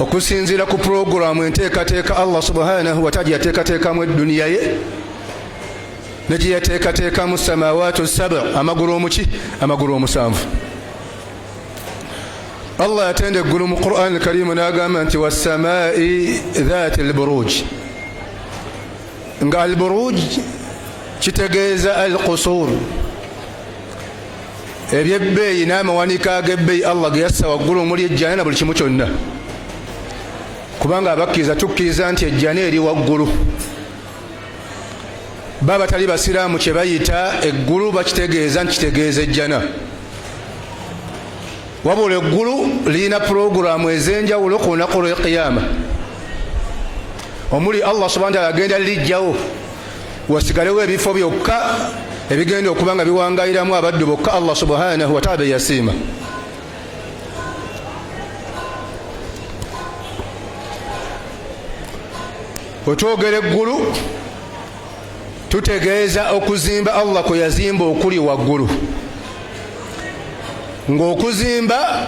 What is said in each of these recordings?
okusinziira ku pulogulaamu enteekateeka allah subhanahu wataala yateekateekamu edduniya ye ne gye yateekateekamu samawaatu saba amagulu omuki amagulu omusanvu allah yatenda eggulu mu quran karimu n'agamba nti wassamai dhaati alburuj nga alburuj kitegeeza alqusuur ebyebbeeyi n'amawanika ag'ebbeeyi allah ge yassa waggulu omuli ejjana na buli kimu kyonna kubanga abakkiriza tukkiriza nti ejjana eri waggulu ba batali basiraamu kye bayita eggulu bakitegeeza nti kitegeeza ejjana wabula eggulu lirina pulogulaamu ez'enjawulo ku lunaku lw'ekiyaama omuli allah subhana taala agenda lijjawo wasigalewo ebifo byokka ebigenda okuba nga biwangayiramu abaddu bokka allah subhanahu wataala beyasiima wetwogera eggulu tutegeeza okuzimba allah kwe yazimba okuli waggulu ng'okuzimba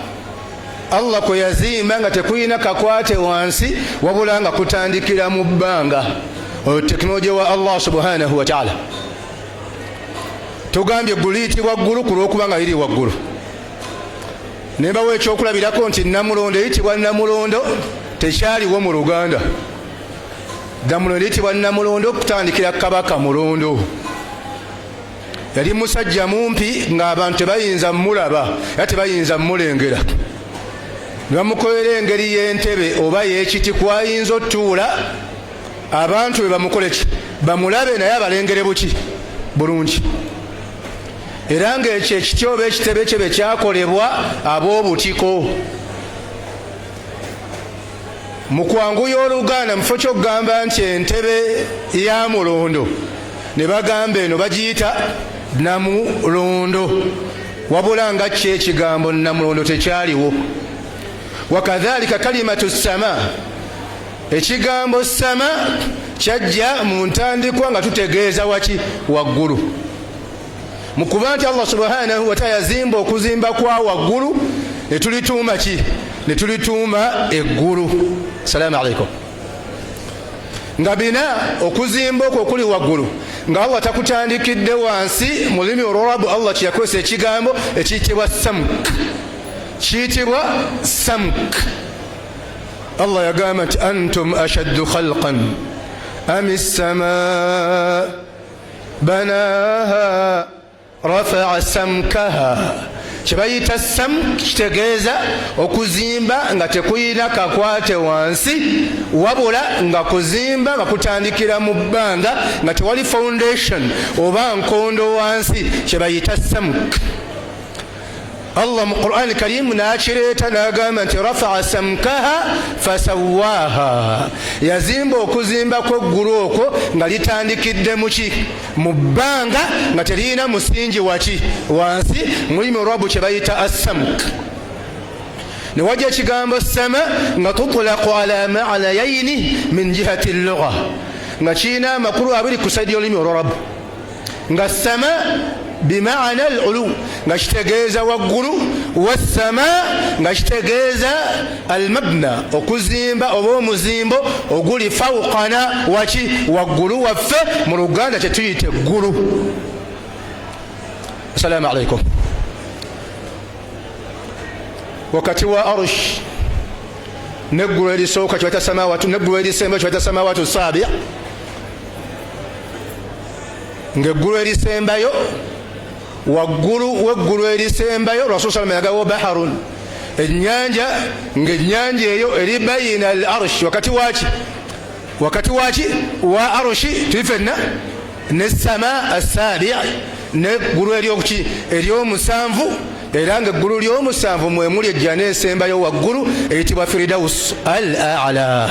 Allah kwe yazimba nga tekulina kakwate wansi wabula nga kutandikira mu bbanga oyo tekinologiya wa Allah subhanahu wataala tugambye ggulu liyitibwa ggulu ku lwokuba nga liri waggulu ne bawa ekyokulabirako nti namulondo eyitibwa namulondo tekyaliwo mu luganda damulondo eyitibwa namulondo okutandikira kabaka mulondo yali musajja mumpi ng'abantu tebayinza mulaba era tebayinza mulengera ne bamukolera engeri y'entebe oba y'ekiti kwayinza otuula abantu be bamukoleki bamulabe naye abalengere buki bulungi era ng'ekyo ekiti oba ekitebe kye be kyakolebwa ab'obutiko mu kwanguya oluganda mufo kyokugamba nti entebe ya mulondo ne bagamba eno bagiyita namulondo wabula nga kyo ekigambo namulondo tekyaliwo wakadhalika kalimatu sama ekigambo sama kyajja mu ntandikwa nga tutegeeza waki waggulu mu kuba nti allah subhanahu wataala yazimba okuzimba kwa waggulu ne tulituuma ki ne tulituuma eggulu salaamu aleikum nga bina okuzimba okwo okuli waggulu nga allah takutandikidde wansi mu lulimi olwarabu allah kyeyakozesa ekigambo ekiyitibwa samk kiyitibwa samk allah yagamba nti antum ashaddu khalqan ami ssamaa banaha rafaa samkaha kyebayita sam kitegeeza okuzimba nga tekuyina kakwate wansi wabula nga kuzimba nga kutandikira mu bbanga nga tewali foundation oba nkondo wansi kyebayita samk Allah mu Qur'an Karimu n'akireeta n'agamba nti rafaa samkaha fasawaaha, yazimba okuzimba kw'eggulu okwo nga litandikidde muki mu bbanga nga teririna musingi waki wansi mulimu rabu kye bayita assamk ne wajja ekigambo sama nga tutulaku ala maanayaini min jihati lugha nga kirina amakulu abiri ku saidi y'olulimi olwarabu nga sama bimaana al ulu nga kitegeeza waggulu wassama nga kitegeeza al mabna okuzimba oba omuzimbo oguli fawqana waki waggulu waffe mu luganda kyetuyita eggulu assalamu alaikum wakati wa arush neggulu erisooka kiwata samawatu neggulu erisemba kiwata samawatu saabia ng'eggulu erisembayo waggulu w'eggulu erisembayo rasul salama yagawo baharun ennyanja ng'ennyanja eyo eri bayina al arsh wakati waki wakati waki wa arushi tuli fenna ne sama assabi neggulu eryokuki eryomusanvu era nga eggulu lyomusanvu mwemuli ejjana esembayo waggulu eyitibwa firidausi al ala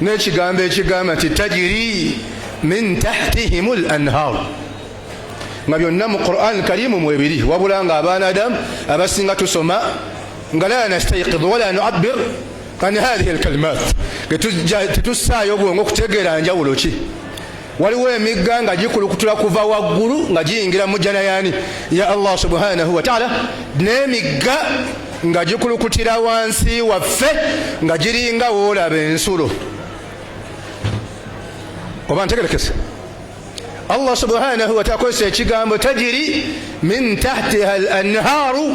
n'ekigambo ekigamba nti tajiri min tahtihim l anhar nga byonna mu quran karimu mwebiri wabula nga abaana adamu abasinga tusoma nga la nastaiqid wala nuabir an hadhihi lkalimat tetussaayo obwongo okutegeera njawulo ki waliwo emigga nga gikulukutula kuva waggulu nga giyingira mu jjana yani ya allah subhanahu wataala n'emigga nga gikulukutira wansi waffe nga giringa woolaba ensulo oba ntegerekese allah subhanahu wataala akozesa ekigambo tajiri min tahtiha al anharu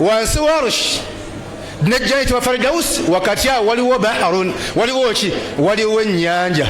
wansi wa arushi nejjaiti wa faridausi wakati awo waliwo baharun waliwo ki waliwo ennyanja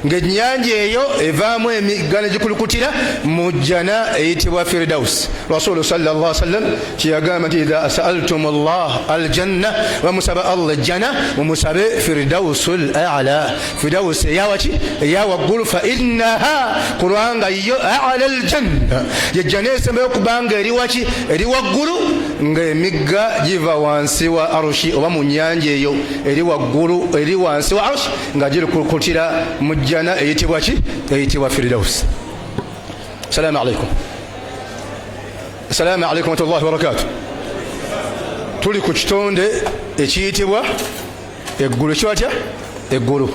ng'ennyanja eyo evaamu emigga ne gikulukutira mu jjana eyitibwa firidausi rasulu salla sallam kyeyagamba nti idha saaltum llah aljanna bamusaba allah ejjana mumusabe firidausu lala fidawusi eyawaki eyawaggulu fa innaha kulwanga yo ala ljanna yejjana esembayo kubanga eri waki eri waggulu ng'emigga giva wansi wa arushi oba mu nyanja eyo eri waggulu eri wansi wa arushi nga giri kukutira mu jjana eyitibwa ki eyitibwa firidausi salaamu alaikum salaamu alaikum watullahi wabarakatu tuli ku kitonde ekiyitibwa eggulu ekiwa tya eggulu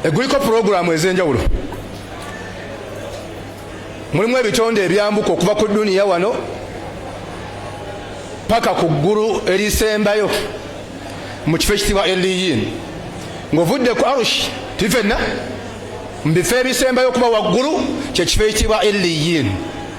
egguliko pulogulaamu ez'enjawulo mulimu ebitonde ebyambuka okuva ku duniya wano paka ku ggulu erisembayo mu kifo ekitibwa eliyin ng'ovudde ku arushi tuli fenna mu bifo ebisembayo okuba waggulu kyekifo ekitibwa eliyin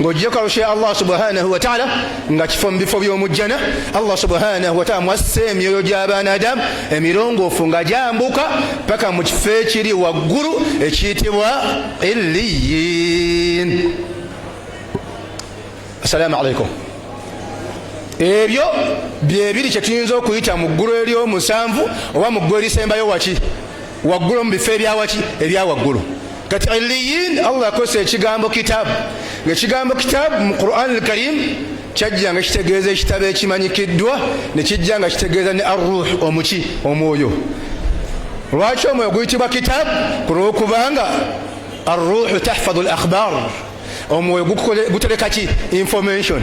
ng'ogyeko alushe allah subhanahu wataala nga kifo mu bifo by'omujjana allah subhanahu wataala mwassa emyoyo gy'abaanadamu emirongoofu nga gyambuka paka mu kifo ekiri waggulu ekiyitibwa illiyin assalaamu alaikum ebyo byebiri kyetuyinza okuyita mu ggulu ery'omusanvu oba mu ggulu erisembayo waki waggulu mu bifo ebyawaki ebyawaggulu kati iliyin allah yakozesa ekigambo kitabu ngaekigambo kitabu mu quran alkarim kyajja nga kitegeeza ekitabo ekimanyikiddwa nekijja nga kitegeeza ne arruh omuki omwoyo lwaki omwoyo guyitibwa kitabu kulwokubanga arruhu tahfadu lakhbar omwoyo gutereka ki information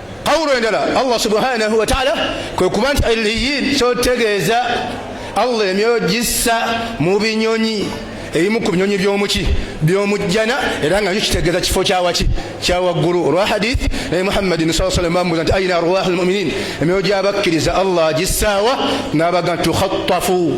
Qawlu endala Allah subhanahu wa ta'ala kwe kuba nti illiyin kyotegeeza Allah emyoyo gissa mu binyonyi ebimu ku binyonyi byomuki byomujjana era nga nyo kitegeeza kifo kyawaki kyawaggulu olwa hadith naye muhammadin saa salam bamubuza nti aina arwahu lmuminin emyoyo gyabakkiriza allah gissaawa n'abaga nti tukhattafu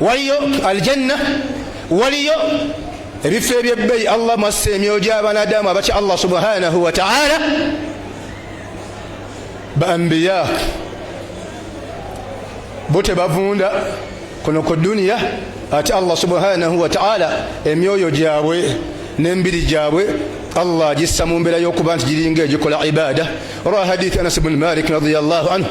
waliyo aljanna waliyo ebifo ebyebbeyi allah mwassa emyoyo gyabanadamu abatya allah subhanahu wataala baambiya bo tebavunda kuno ku duniya ate allah subhanahu wataala emyoyo gyabwe nembiri gyabwe allah agissa mu mbeera y'okuba nti giringa egikola ibaada olwa hadithi anas bni malik radiallahu anhu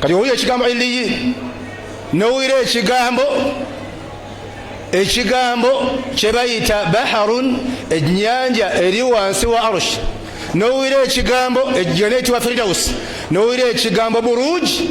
kati owulira ekigambo iliyi nowulira ekigambo ekigambo kyebayita baharun enyanja eri wansi wa arushi nowulira ekigambo ejjana ekitibwa firidausi nowulira ekigambo buruji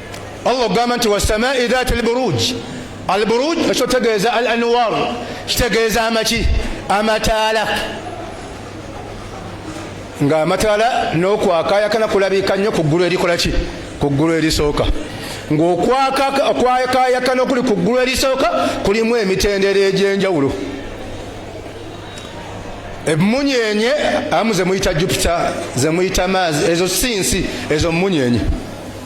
Allah ogamba nti wasamai dhati lburuj alburuj ekyo tegeeza al anwar kitegeeza amaki amataala nga amataala nokwakayakana kulabika nnyo ku ggulu erikola ki ku ggulu erisooka ngaokwakayakana okuli ku ggulu erisooka kulimu emitendera egyenjawulo emunyenye amu zemuyita jupiter zemuyita maazi ezo si nsi ezo munyenye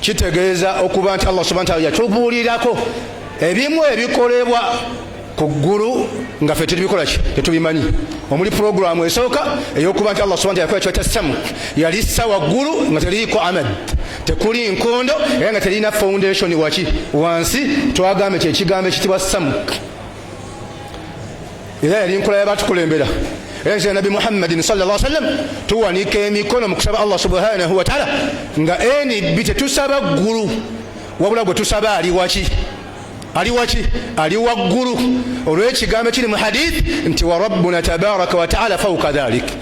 kitegeeza okuba nti allah subhana taala yatubuulirako ebimu ebikolebwa ku ggulu nga fe tetubikola ki tetubimanyi omuli puroguramu esooka eyokuba nti allah subana yakola kiba kya samu yali sa waggulu nga teliiko amad tekuli nkondo era nga telina foundation waki wansi twagambye kyekigambo ekitibwa samuk era yali nkola yabatukulembera era kira nabbi muhammadin salllah sallam tuwanika emikono mu kusaba allah subhanahu wataala nga nb tetusaba ggulu wabula gwe tusaba ali waki ali waki ali waggulu olwekigambo kiri mu hadith nti warabbuna tabaraka wataala fauka dhalik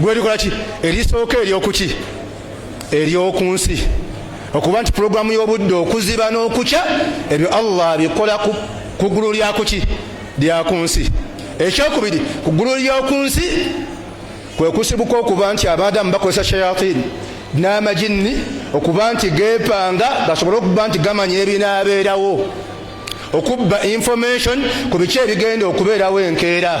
gwelikola ki erisooka eryokuki eryoku nsi okuba nti pulogulaamu y'obudde okuziba n'okukya ebyo allah abikola ku ggulu lyakuki lyaku nsi ekyokubiri ku ggulu lyoku nsi kwe kusibuka okuba nti abaadamu bakozesa shayatini n'amajinni okuba nti geepanga gasobole okuba nti gamanya ebinaabeerawo okubba information ku biki ebigenda okubeerawo enkeera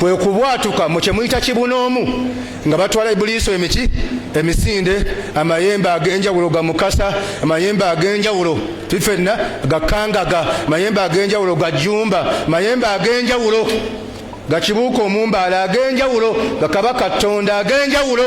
kwe kubwatuka mu kye muyita kibunoomu nga batwala ibuliiso emiki emisinde amayembe ag'enjawulo ga mukasa amayembe ag'enjawulo fifenna gakangaga mayembe ag'enjawulo ga jumba mayembe ag'enjawulo gakibuuka omumbaala ag'enjawulo gakabaka ttonda ag'enjawulo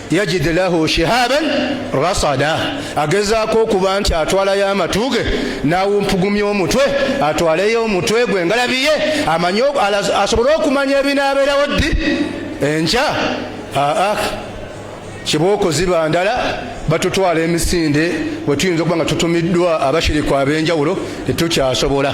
yajid lahu shihaban rasada agezaako okuba nti atwalayo amatu ge n'awumpugumya omutwe atwaleyo omutwe gwe ngalabi ye amanye asobole okumanya ebinaabeerawo ddi enkya aa kibooko ziba ndala batutwala emisinde we tuyinza okuba nga tutumiddwa abashiriku ab'enjawulo tetukyasobola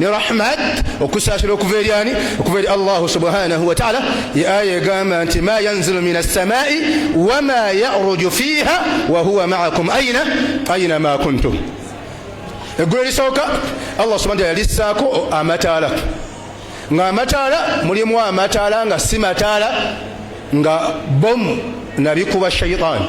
ne rahmat okusaasira okuva eri ani okuva eri allahu subhanahu wataala ye aya egamba nti ma yanzilu min assamai wama yaruju fiiha wahuwa maakum aina aina ma kuntum eggulu erisooka allah subhana taala yalissaako amataala nga amataala mulimu amataala nga si mataala nga bomu nabikuba shaitaani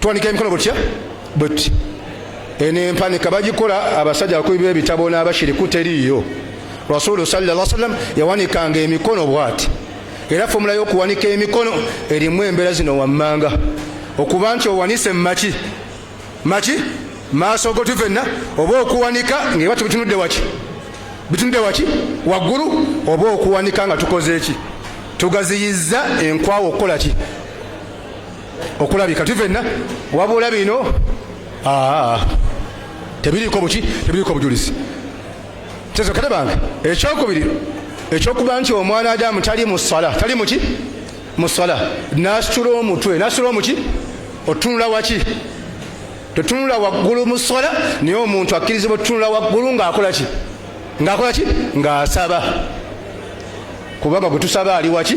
tuwanika emikono butya buti eno empanika bagikola abasajja abakubi b'ebitabo n'abashiriku teriiyo rasulu sallallahu sallam yawanikanga emikono bwati era fomula y'okuwanika emikono erimu embeera zino wammanga okuba nti owanise mumaki maki maaso go tufenna oba okuwanika ngaeba tubitunudde waki bitunudde waki waggulu oba okuwanika nga tukoze eki tugaziyizza enkwawa okukola ki okulabika tuli fenna wabula bino tebiriiko buki tebiriiko obujulizi kyezokere bange ekyokubiri ekyokuba nti omwana adamu tali mu sala tali muki mu sala nasitula omutwe nasitula omuki otunula waki totunula waggulu mu sala naye omuntu akkirizibwa otunula waggulu ngaakola ki ngaakola ki ngaasaba kubanga gwe tusaba ali waki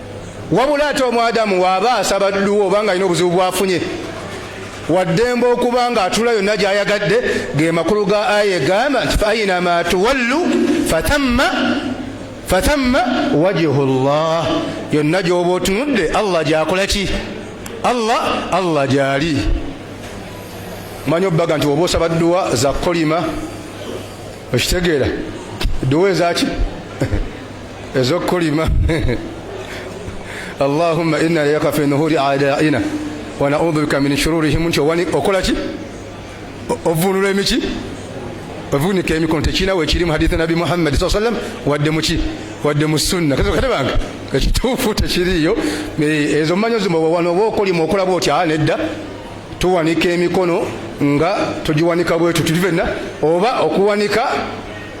Wabula ate omwadamu waaba asaba dduwa oba nga alina obuzibu bwafunye waddembe okuba nga atula yonna gyayagadde ge makulu ga aya egamba nti fainama tuwallu fatamma fatamma wajihu llah yonna gyoba otunudde allah gyakola ki allah allah gyali manya obubaga nti oba osaba dduwa za kolima okitegeera dduwa ezaki ezokulima allahumma inna ilayka fi nuhuri adaina wa naudhu bika min shururihim nti owani okola ki ovunula emiki ovunika emikono tekirina wekiri mu hadithi nabi muhammadi saa sallam wadde muki wadde mu sunna kate bange ekituufu tekiriiyo eh, ezo manyo zimawano oba okolima okola bwoti a ah, nedda tuwanika emikono nga tugiwanika bwetu tuli fenna oba okuwanika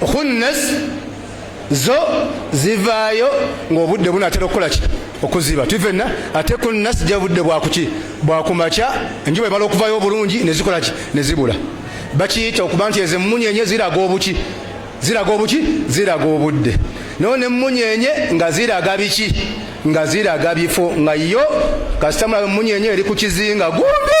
khunnas zo zivaayo ng'obudde bunaatera okukola ki okuziba tuvenna ate ku nasi ja budde bwakuki bwakumakya enjuba ebala okuvayo obulungi nezikola ki nezibula bakiyita okuba nti ezo emmunyenye ziraga obuki ziraga obuki ziraga obudde nayo nemmunyenye nga ziraga biki nga ziraga bifo nga yo kasitamulabe emmunyenye eri ku kizinga gumbi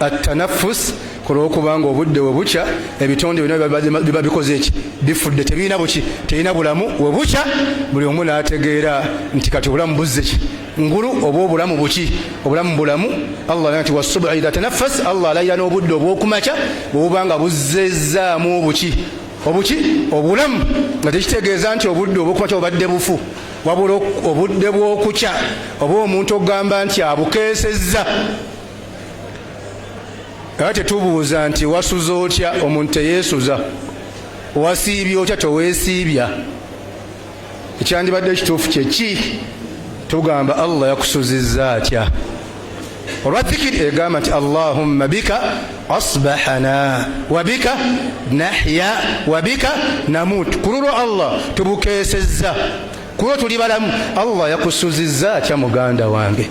attanafus ku lwokubanga obudde we bukya ebitonde byonna biba bikoze eki bifudde tebirina buki terina bulamu we bukya buli omu n'ategeera nti kati obulamu buzze ki ngulu oba obulamu buki obulamu bulamu allah alayira nti wasubu idha tanafas allah alayira n'obudde obw'okumakya bwebubanga buzzezzaamu obuki obuki obulamu nga tekitegeeza nti obudde obw'okumakya bubadde bufu wabula obudde bw'okukya oba omuntu okugamba nti abukeesezza era tetubuuza nti wasuza otya omuntu teyeesuza wasiibya otya teweesiibya ekyandibadde ekituufu kyeki tugamba allah yakusuzizza atya olwa zikiri egamba nti allahumma bika asbahana wabika nahya wabika namut ku lulwo allah tubukeesezza ku lwo tuli balamu allah yakusuzizza atya muganda wange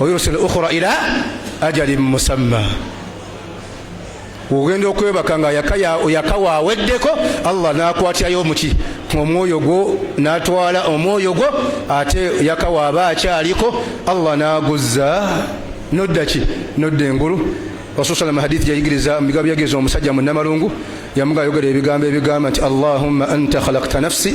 wayursil ukhura ila ajali musamma ogenda okwebaka nga yakawa aweddeko allah nakwatirayo omuki omwoyo gwo natwala omwoyo gwo ate yakawa aba akyaliko allah naguzza nodda ki nodda engulu rasusalam hadith yayigiriza mubigambo byagiriza omusajja munamalungu yamuga ayogera ebigambo ebigamba nti allahumma anta khalakta nafsi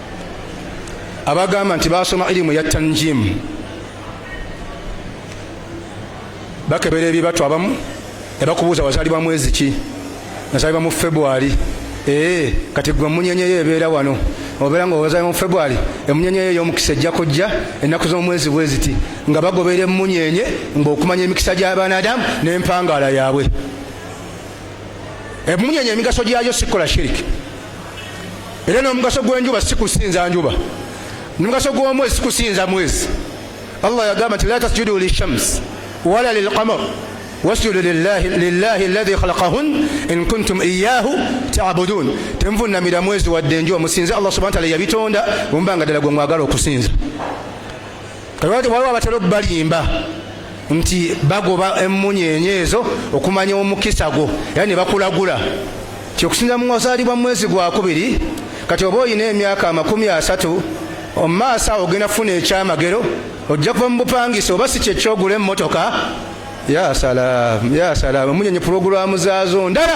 abagamba nti basoma ilimu ya tanjimu bakebera ebibatu abamu nebakubuuza wazalibwa mwezi ki nazalibwa mu february ee eh, kati gwe emunyenyeyo ebeera wano obeera nga owazalibwa mu february emunyenyeyo eyomukisa ejja kujja ennaku z'omwezi bweziti nga bagobeera emunyenye ngaokumanya emikisa gy'abanadamu n'empangaala yaabwe emunyenye emigaso gyayo sikola shiriki era n'omugaso gw'enjuba si kusinza njuba nomugaso gw'omwezi si kusinza mwezi allah yagamba nti la tasjudu lishams wala lilqamar wasjudu lillahi alladhi khalaqahun in kuntum iyahu tabudun temuvunnamira mwezi wadde enjuba musinze allah subhana taala yabitonda omuba nga ddala gwe mwagala okusinza waliwo abatera okubalimba nti bagoba emmunyeenye ezo okumanya omukisa gwo era ne bakulagula ti okusinza mu wazaalibwa mu mwezi gwakubiri kati oba olina emyaka amakumi asatu omumaaso awo ogenda kufuna ekyamagero ojja kuva mu bupangisa oba si kyekyogula emmotoka yasalaamu yasalaamu emunyonyi pulogulaamu zaazo ndala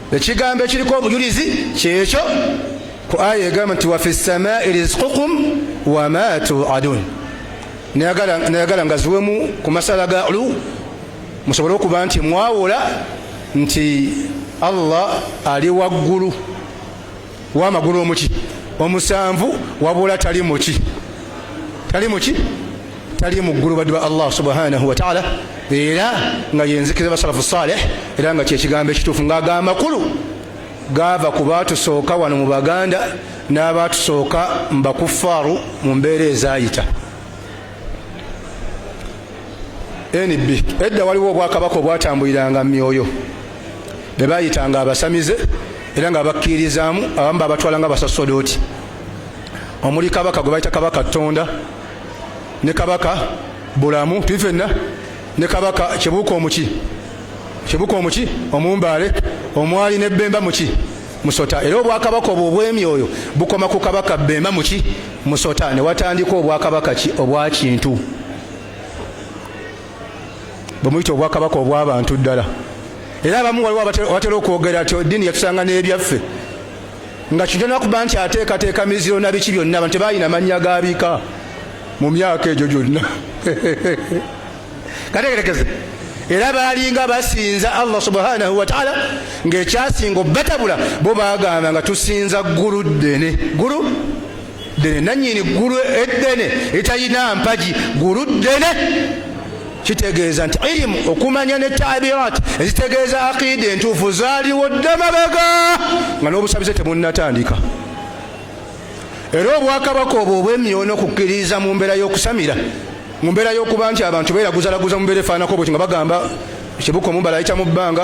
ekigambo ekiriko obujulizi kyekyo ku aya egamba nti wafi samai rizqukum wama tuadun nayagala nga ziwemu ku masala ga lu musobole okuba nti mwawula nti allah ali waggulu wa magulu omuki omusanvu wabula tali muki tali muki tali mu ggulu baddu ba allah subhanahu wataala era nga yenzikiriza basalafu saleh era nga kyekigambo ekituufu ngaaga amakulu gaava ku baatusooka wano mu baganda n'abaatusooka mu bakuffaaru mu mbeera ezaayita NB edda waliwo obwakabaka obwatambuliranga myoyo be bayitanga abasamize era nga bakkirizaamu abamu babatwala nga basasodooti omuli kabaka gwe bayita kabaka tonda ne kabaka bulamu tuli fenna ne kabaka kibuuka omuki kibuuka omuki omumbaale omwali ne bemba muki Musota era obwakabaka obwo obw'emyoyo bukoma ku kabaka Bemba muki Musota ne watandika obwakabaka ki obwa kintu bwemuyita obwakabaka obw'abantu ddala era abamu waliwo abatera okwogera nti eddiini yatusanga n'ebyaffe nga kintu nakuba nti ateekateeka miziro na biki byonna abantu tebalina mannya ga bika mu myaka egyo gyonna kategerekeze era baalinga basinza allah subhanahu wataala ngaekyasinga obatabula bo bagamba nga tusinza ggulu ddene ggulu ddene nanyini ggulu eddene etalina mpagi ggulu ddene kitegeeza nti irimu okumanya ne tabirat ezitegeeza aqida entuufu zaaliwo dda mabega nga n'obusabize tebunnatandika era obwakabaka obwo obwemyono kukkiririza mu mbeera y'okusamira mu mbeera y'okuba nti abantu beeraguzalaguza mu mbeera efaanako bwekyo nga bagamba kibuka omumbala ayita mu bbanga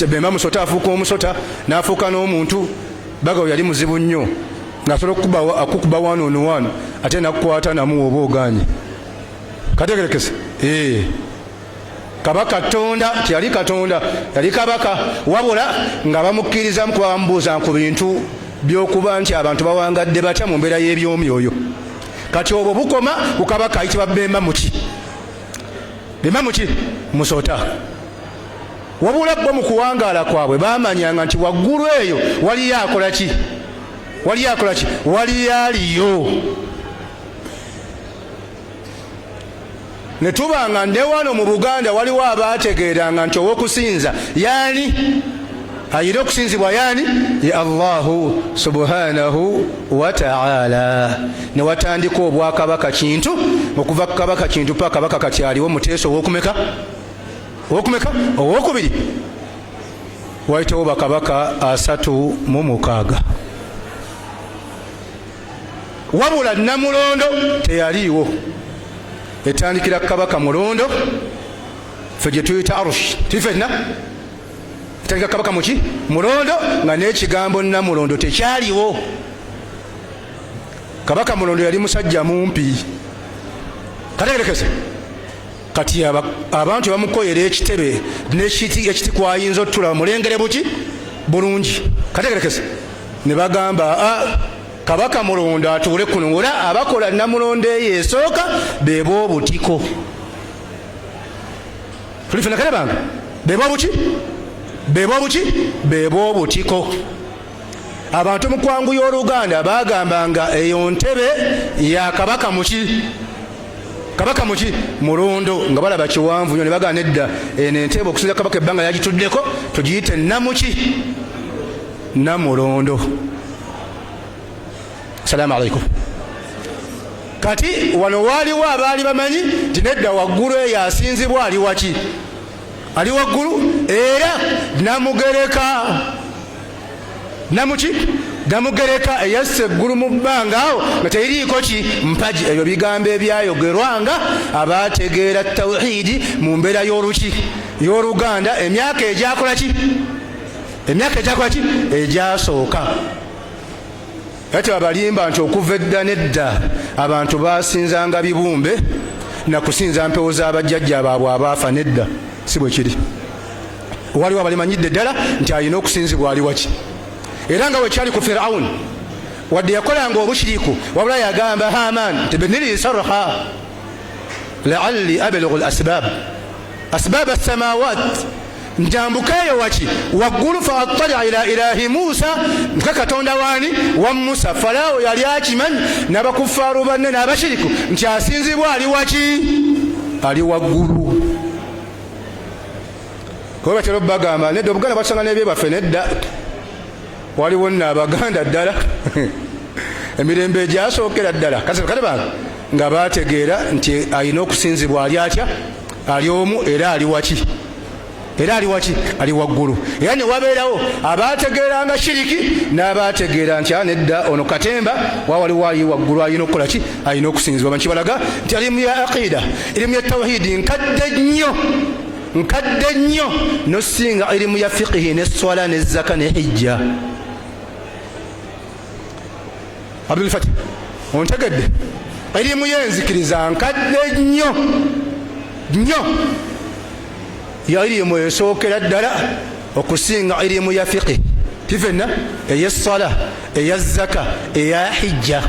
sebemba musota afuuka omusota n'afuuka n'omuntu bagawo yali muzibu nnyo ng'asobola okukuba wano ono wano ate nakukwata namuwa oba oganye kategerekese ee eh. kabaka tonda teyali katonda yali kabaka wabula nga bamukkirizamu kuba bamubuuzanga ku bintu byokuba nti abantu bawangadde batya mu mbeera y'ebyomyoyo kati obwo bukoma ku kabaka ayitibwa bemba muki bemba muki musota wabula bo mu kuwangaala kwabwe bamanyanga nti waggulu eyo waliyo akola ki waliyo akola ki waliyo aliyo ne tuba nga ne wano mu buganda waliwo abaategeeranga nti ow'okusinza yaani ayina okusinzibwa yaani ye allahu subhanahu wataala ne watandika obwakabaka kintu okuva ku kabaka kintu pa kabaka kati aliwo muteesa owokumeka owokumeka owokubiri waitewo bakabaka asatu mu mukaaga wabula namulondo teyaliiwo etandikira kabaka mulondo fe gyetuyita arush tifenna etandika kabaka muki mulondo nga nekigambo namulondo tekyaliwo kabaka mulondo yali musajja mumpi kategerekese kati abantu bamukoyera ekitebe nekiti ekiti kwayinza otula mulengere buki bulungi kategerekese ne bagamba a ah, kabaka mulondo atuule kuno ngaola abakola namulondo eyo esooka beba obutiko tulifena kale bange beba obuki beba obuki beba obutiko abantu mukwangu y'oluganda bagamba nga eyo ntebe ya kabaka muki kabaka muki mulondo nga balaba kiwanvu nyo nebagana edda eno enteeba okusinza kabaka ebbanga yagituddeko tugiyite namuki namulondo salaamu alaikum kati wano waaliwo abaali bamanyi nti nedda waggulu eyo asinzibwa ali waki ali waggulu era namugereka namuki namugereka eyassa eggulu mu bbanga awo nga teriiko ki mpagi ebyo bigambo ebyayogerwa nga abaategeera tawhidi mu mbeera y'oluki y'oluganda emyaka egyakola ki emyaka egyakola ki egyasooka ati abalimba nti okuva edda nedda abantu basinzanga bibumbe nakusinza mpewo za bajjajja baabwe abaafa nedda si bwe kiri waliwo abalimanyidde ddala nti alina okusinzibwa ali waki era nga wekyali ku firawuni wadde yakolanga obushiriku wabula yagamba haman nti beniriisarha laalli abelughu l asbab asbab assamawat njambuka eyo waki waggulu fa attala ila ilahi musa nka katonda waani wa musa falaawo yali akimanyi n'abakufaaru banne n'abashiriku nti asinzibwa ali waki ali waggulu kuba batera obubagamba nedda obuganda batusanga n'ebyebaffe nedda waliwo nno abaganda ddala emirembe egyasookera ddala kale bange nga bategeera nti alina okusinzibwa ali atya ali omu era ali waki era ali waki ali waggulu era ne wabeerawo abaategeeranga shiriki n'abaategeera nti anedda ah, ono katemba wa waliwo ali waggulu alina okukola ki alina okusinzibwa bankibalaga nti alimu ya aqida erimu ya tawhidi nkadde nnyo nkadde nnyo nosinga irimu ya fiqihi ne swala ne zaka ne hijja abdulfati ontegedde irimu yenzikiriza nkadde nnyo nnyo ya irimu esookera ddala okusinga irimu ya fiqihi tifenna eya swala eya zaka eya hijja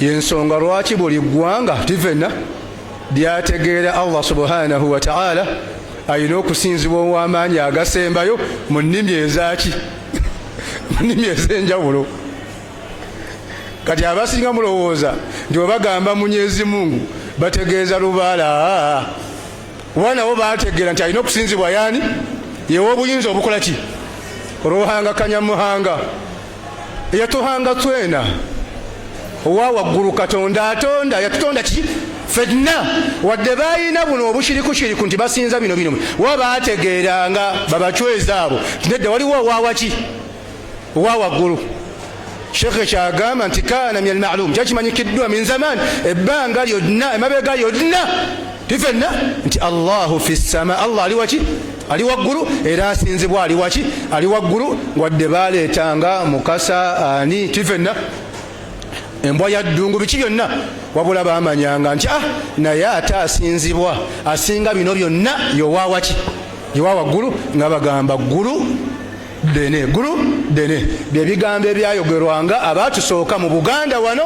yensonga lwaki buli ggwanga tivena lyategeera allah subhanahu wataala alina okusinzibwa owamaanyi agasembayo mu nnimi ezaki mu nnimi ezenjawulo kati abasinga mulowooza nti webagamba munyezi mungu bategeeza lubaala oba nabo bategeera nti alina okusinzibwa yaani yewa obuyinza obukola ki oluhanga kanyamuhanga eyatuhanga twena owa waggulu katonda atonda yatutonda ki fenna wadde balina buno obushirikushiriku nti basinza bino bino wa baategeeranga babacweza abo nedda waliwo owawaki owa waggulu shekhe kyagamba nti kaana min almalum kyakimanyikiddwa min zaman ebbanga lyonna emabega yonna tifenna nti allahu fi ssama allah ali waki ali waggulu era asinzibwa ali waki ali waggulu wadde baleetanga mukasa ani tifenna embwa ya ddungu biki byonna wabula bamanyanga nti ah naye ate asinzibwa asinga bino byonna yowawaki yowa waggulu nga bagamba ggulu ddene ggulu ddene byebigambo ebyayogerwanga abaatusooka mu buganda wano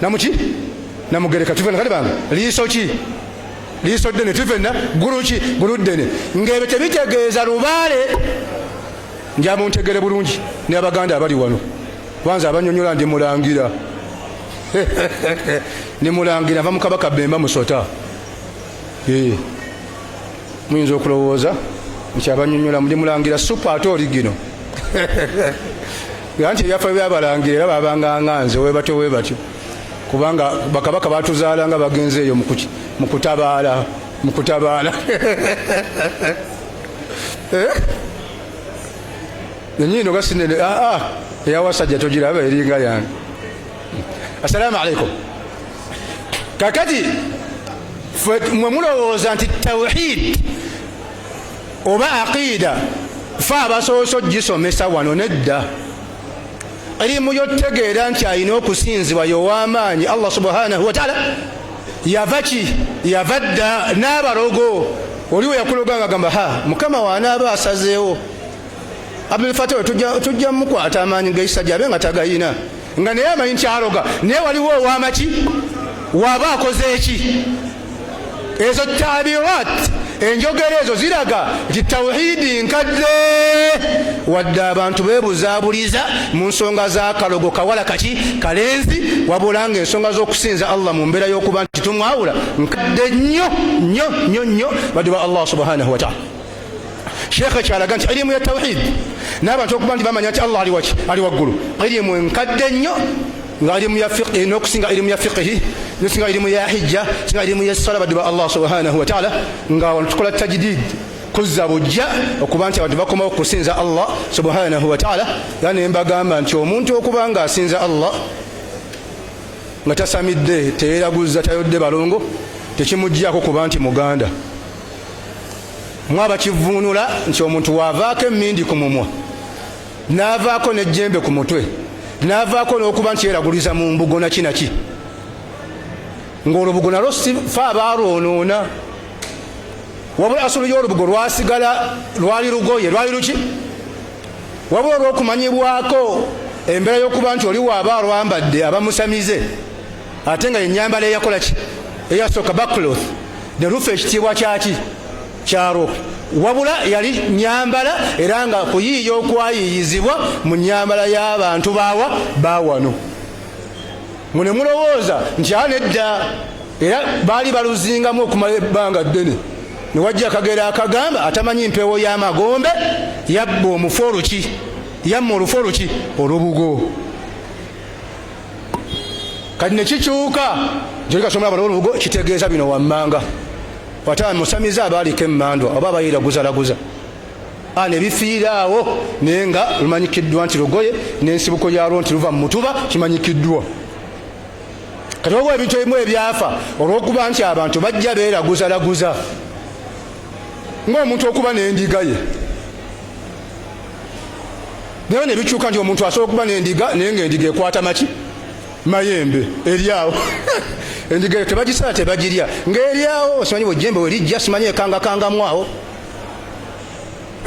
namuki namugereka tuvena kale bange liiso ki liiso ddene tuvena ggulu ki ggulu ddene ng'ebyo tebitegeeza lubaale nja muntegere bulungi ne abaganda abali wano kwanza abanyonyola ndi mulangira ne mulangira nva mukabaka bemba musota eh. muyinza okulowooza nti abanyonyola ndi mulangira supa ate oligino nga nti ebyafaayo byabalangira era babanga nga nze webatyo webatyo kubanga bakabaka batuzaala nga bagenze eyo mu kutabaala mu kutabaala eh? nenyiino gasinene aa ah, ah, eyawasajja togiraba eringa yange assalaamu alaikum kakati mwe mulowooza nti tawhid oba aqiida fe abasoose ogisomesa wano nedda erimu yotegeera nti alina okusinzibwa yowamaanyi allah subhanahu wataala yava ki yava dda n'abalogo oliwo yakuloga nga gamba ha mukama wanaaba asazeewo abdulfata oyo tujja mukwata amaanyi gaisa gyabe nga tagayina nga naye amanyi nti aloga naye waliwo owamaki waba akoze eki ezo tabirat enjogera ezo ziraga nti tawhidi nkadde wadde abantu bebuzabuliza mu nsonga zakalogo kawala kaki kalenzi wabula nga ensonga zokusinza allah mu mbeera yokuba nti tumwawula nkadde nnyo nnyo nnyo nnyo badde ba allah subhanahu wataala sheekha kyalaga nti elimu ya tawhidi n'abantu okuba nti bamanya nti allah ali waki ali waggulu elimu enkadde nnyo nga ilimu ya fiqhi nokusinga ilimu ya fiqhi nokusinga ilimu ya hijja singa ilimu ya sala badiba allah subhanahu wa ta'ala nga wano tukola tajdid kuzza bujja okuba nti abantu bakomawo kusinza allah subhanahu wa ta'ala era ne mbagamba nti omuntu okuba nga asinza allah nga tasamidde teyeraguzza tayodde balongo tekimuggyako kuba nti muganda mwaba kivuunula nti omuntu waavaako emmindi ku mumwa n'avaako n'ejjembe ku mutwe n'avaako n'okuba nti yeraguliza mu mbugo naki naki ng'olubugo nalwo sifa abaalwonoona wabula asulu y'olubugo lwasigala lwali lugoye lwali luki wabula olw'okumanyibwako embeera y'okuba nti oli waaba alwambadde abamusamize ate nga yenyambala eyakola ki eyasooka bakloth ne lufa ekitiibwa kyaki kyalo wabula yali nyambala era nga kuyiiya okwayiiyizibwa mu nyambala y'abantu baawa baawano mwe ne mulowooza nti a nedda era baali baluzingamu okumala ebbanga ddene ne wajja akagero akagamba atamanyi mpewo y'amagombe yabba omufu oluki yamma olufu oluki olubugo kati nekikyuka jolikasomera bano olubugo kitegeeza bino wammanga wata musamiza abaaliko emmandwa oba abayiira guzalaguza a nebifiiraawo naye nga lumanyikiddwa nti lugoye n'ensibuko yalwo nti luva mu mutuba kimanyikiddwa kati waliwo ebintu ebimu ebyafa olwokuba nti abantu bajja beeraguzalaguza ngaomuntu okuba n'endiga ye naye nebikyuka nti omuntu asobola okuba nendiga naye nga endiga ekwata maki mayembe eryawo endiga eyo tebagisala tebagirya ngaeryawo simanyi bwejembe werijja simanyi ekangakangamwawo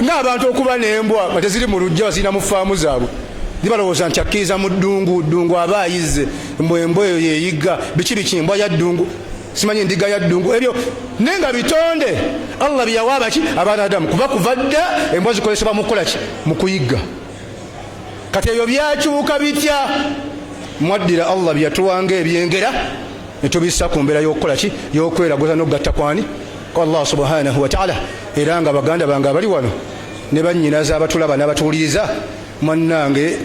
ngaabantu okuba nembwa nga teziri mu lujja bazirina mu faamu zaabwe zibalowooza nti akkiriza mu ddungu ddungu aba ayizze mbwembwa eyo yeyigga biki biki embwa ya ddungu simanyi endiga ya ddungu ebyo naye nga bitonde allah byeyawa abaki abaana adamu kuba kuva dda embwa zikozesebwa mukukolaki mu kuyigga kati ebyo byakyuka bitya mwaddira allah byeyatuwanga ebyengera netubissa ku mbeera yokukolaki yokweraguza nokugatta kwani ku allah subhanahu wataala era nga baganda bange abali wano ne bannyinaza abatulaba n'abatuwuliriza mwannange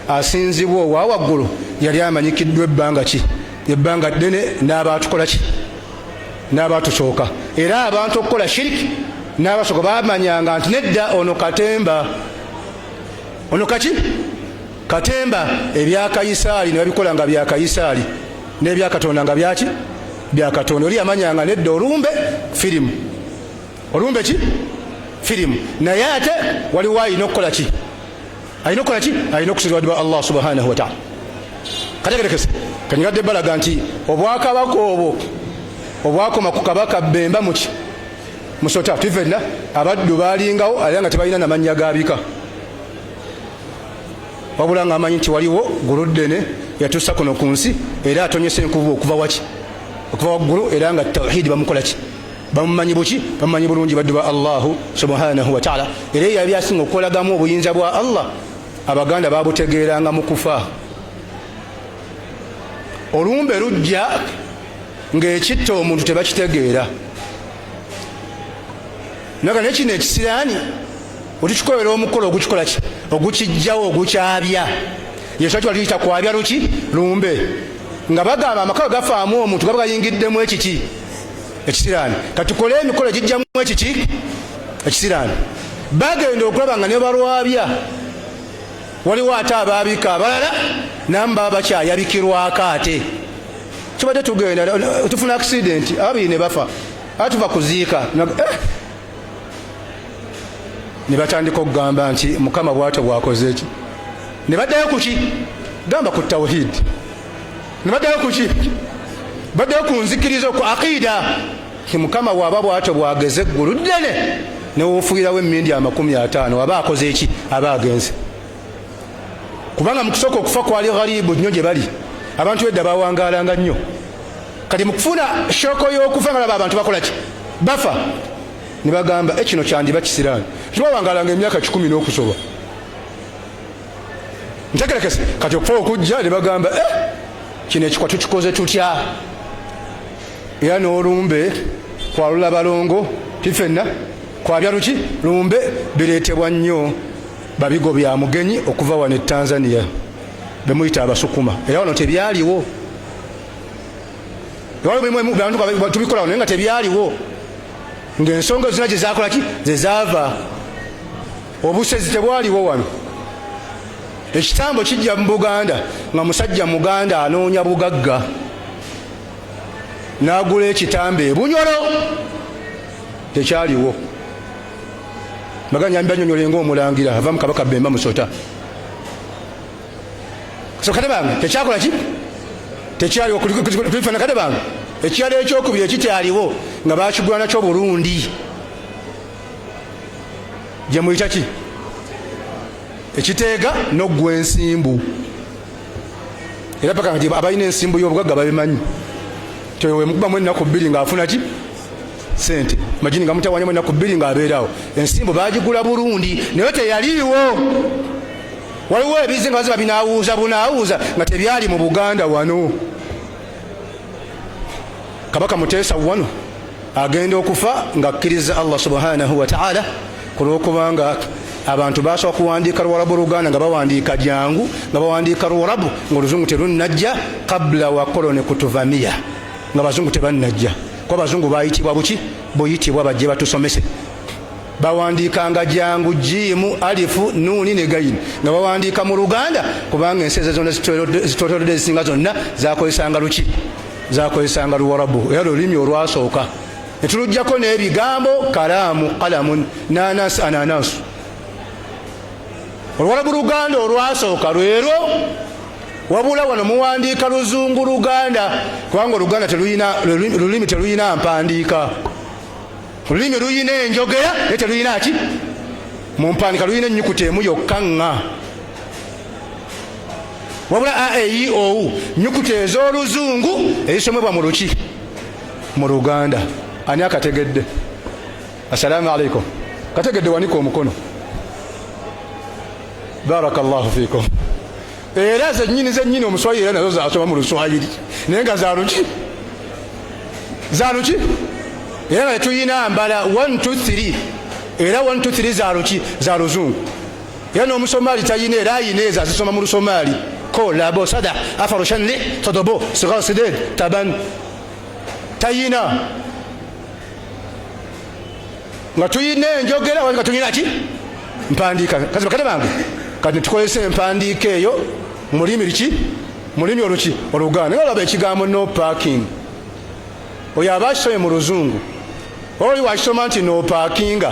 asinzibwa owawaggulu yali amanyikiddwa ebbanga ki ebbanga ddene n'aba atukola ki n'aba atusooka era abantu okukola shiriki n'abasooka bamanyanga nti nedda ono katemba ono kaki katemba ebyakayisaali ne babikola nga byakayisaali n'ebyakatonda nga byaki byakatonda oli yamanyanga nedda olumbe firimu olumbe ki firimu naye ate waliwo alina okukola ki alina okukola ki alina okusiradwa allah subhanahu wataala kategerekese kanyigadde balaga nti obwakabaka obwo obwakoma ku kabaka bemba muki musota tuvenna abaddu balingawo alira nga tebalina namannya gabika wabula nga amanyi nti waliwo guluddene yatusa kuno ku nsi era atonyesa enkubu okuva waki okuva waggulu era nga tawhidi bamukolaki bamumanyi buki bamumanyi bulungi baddu ba allahu subhanahu wataala era eyo yali asinga okukolagamu obuyinza bwa allah abaganda babutegeeranga mu kufa olumbe lujja ngaekitta omuntu tebakitegeera naga naye kino ekisiraani otukikolera omukolo ogukikola ki ogukijjawo ogukyabya yesu akiwa tuyita kwabya luki lumbe nga bagamba amakawe gafaamu omuntu gaba gayingiddemu ekiki ekisiraani katukole emikolo egijjamu ekiki ekisiraani bagenda okulaba nga nebalwabya waliwo ate abaabika abalala namu baba bakyayabikirwako ate kibadde tugenda tufuna akisidenti ababiri ne bafa ate tuva kuziika eh! ne batandika okugamba nti mukama bwatyo bwakoze eki ne baddayo kuki gamba ku tawhidi nebaddayo kuki baddayo ku nzikiriza ku aqiida ti mukama waaba bwatyo bwageze eggulu ddene newofuirawo emindi amakumi ataano aba akoze eki aba agenze kubanga mukusooka okufa kwali gharibu nnyo gye bali abantu edda bawangalanga nnyo kati mukufuna shoko y'okufa nga laba abantu bakolaki bafa ne bagamba ekino eh, kyandiba kisiraani tibawangalanga emyaka kikumi n'okusoba ntegerekese kati okufa okujja ne bagamba eh, kino ekikwa tukikoze tutya era n'olumbe kwalula balongo tifenna kwabya luki lumbe bireetebwa nnyo babigo bya mugenyi okuva wano e tanzania bemuyita abasukuma era wano tebyaliwo tubikola wano naye nga tebyaliwo ng'ensonga zina gye zakolaki ze zaava obusezi tebwaliwo wano ekitambo kijja mu buganda nga musajja muganda anoonya bugagga n'agula ekitambo ebunyolo tekyaliwo maganyambi banyonyole ngaomulangira ava mu kabaka bemba musota sokate bange tekyakola ki tekyaliwo kulifanakate bange ekyalo ekyokubiri ekikyaliwo nga bakigwanakyo burundi gyemuyita ki ekiteega noggwa ensimbu era paka nga abalina ensimbu y'obugagga babimanyi tewemukubamu ennaku bbiri ng'afuna ki sente majini nga mutawanyamu ennaku bbiri ng'abeerawo ensimbu bagigula burundi naye teyaliiwo waliwo ebizi nga baziba binawuuza bunawuuza nga tebyali mu buganda wano kabaka muteesa wano agenda okufa nga akkiriza allah subhanahu wataala ku lwokubanga abantu basobola kuwandiika luwarabu oluganda nga bawandiika jangu nga bawandiika luwarabu nga oluzungu terunnajja kabula wa koloni kutuvamiya nga bazungu tebannajja kuba bazungu bayitibwa buki buyitibwa bajje batusomese bawandiikanga jangu jiimu alifu nuuni ne gayini nga bawandiika mu luganda kubanga ensi ezo zonna zitotodde ezisinga zonna zakozesanga luki zakozesanga luwarabu era lulimi olwasooka netulujjako n'ebigambo kalaamu kalamun nanas ananasu oluwarabu luganda olwasooka lwero wabula wano muwandiika luzungu luganda kubanga oluganda lulimi teluyina mpandiika olulimi luyina enjogera naye teluyina ki mumpandika luyina enyukuta emu yokka ŋa wabula a e i o u nyukuta ez'oluzungu ezisomebwa mu luki mu luganda ani akategedde assalamu alaikum kategedde wanika omukono baraka llahu fikum era zenyini zenyini omuswayiri era nazo zasoma mu luswayiri naye nga zaluki zaluki era nga tetuyina mbala 123 era 123 zaluki za luzungu era n'omusomaali talina era ayina ezo azisoma mu lusomaali ko labo sada afaroshanli todobo sigasided taban tayina nga tulina enjogera nga tulina ki mpandiika kazi bakate bange kati tukozesa empandiika eyo mulimi liki mulimi oluki oluganda nga olaba ekigambo no parking oyo aba akisomye mu luzungu oli wakisoma nti no parkinga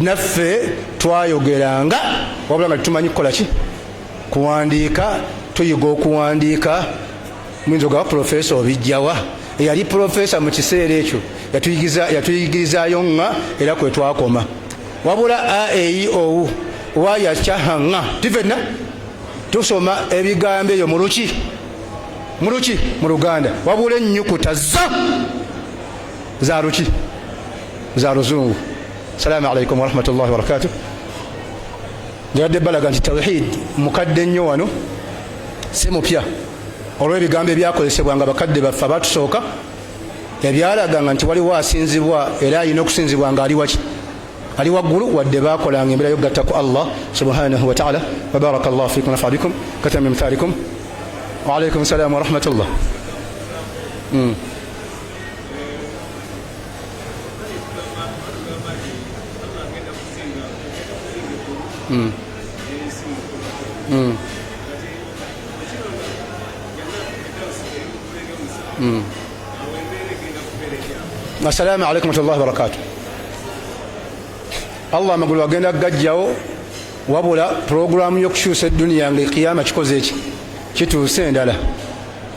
naffe twayogeranga wabula nga tetumanyi kukola ki kuwandiika tuyiga okuwandiika muyinza ogaba pulofeesa obijjawa eyali pulofeesa mu kiseera ekyo yatuyigirizaayo nga era kwe twakoma wabula aeiowu wayakyahanga tifenna tusoma ebigambo eyo muluki muluki mu luganda wabula ennyukuta zo zaruki za luzungu salaamu alaikum warahmatullahi wabarakatu njabadde balaga nti tawhid mukadde nnyo wano si mupya olw'ebigambo ebyakozesebwa nga bakadde baffe abatusooka ebyalaganga nti waliwo asinzibwa era alina okusinzibwa nga ali waki ali waggulu wadde bakolanga embeera yokugatta ku allah subhanahu wataala wabaraka llahu fikum nafa bikum katamimthalikum waalaikum salamu warahmatullah mm. Mm. Mm. Mm. Assalamu alaikum warahmatullahi wabarakatuh. Allah amagulu agenda gajjawo wabula pulogulaamu y'okukyusa edduniya nga ekiyama kikoze eki kituuse endala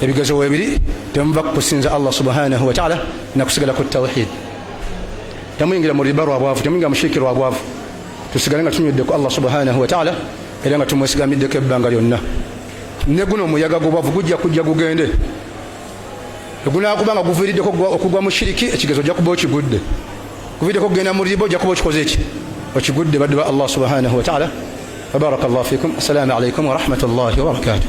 ebigezo webiri temuva kukusinza allah subhanahu wataala nakusigala ku tawhid temuyingira mu riba lwabwavu temuyingira mushiriki lwabwavu tusigale nga tunywedde ku allah subhanahu wataala era nga tumwesigamiddeko ebbanga lyonna ne guno omuyaga gubwavu gujja kujja gugende egunakuba nga guviiriddeko okugwa mu shiriki ekigezo ojja kuba okigudde guviiriddeko okugenda mu riba ojja kuba okikoze eki okigudde baddu ba allah subhanahu wataala wabaraka llahu fikum assalamu alaikum warahmatullahi wabarakatuh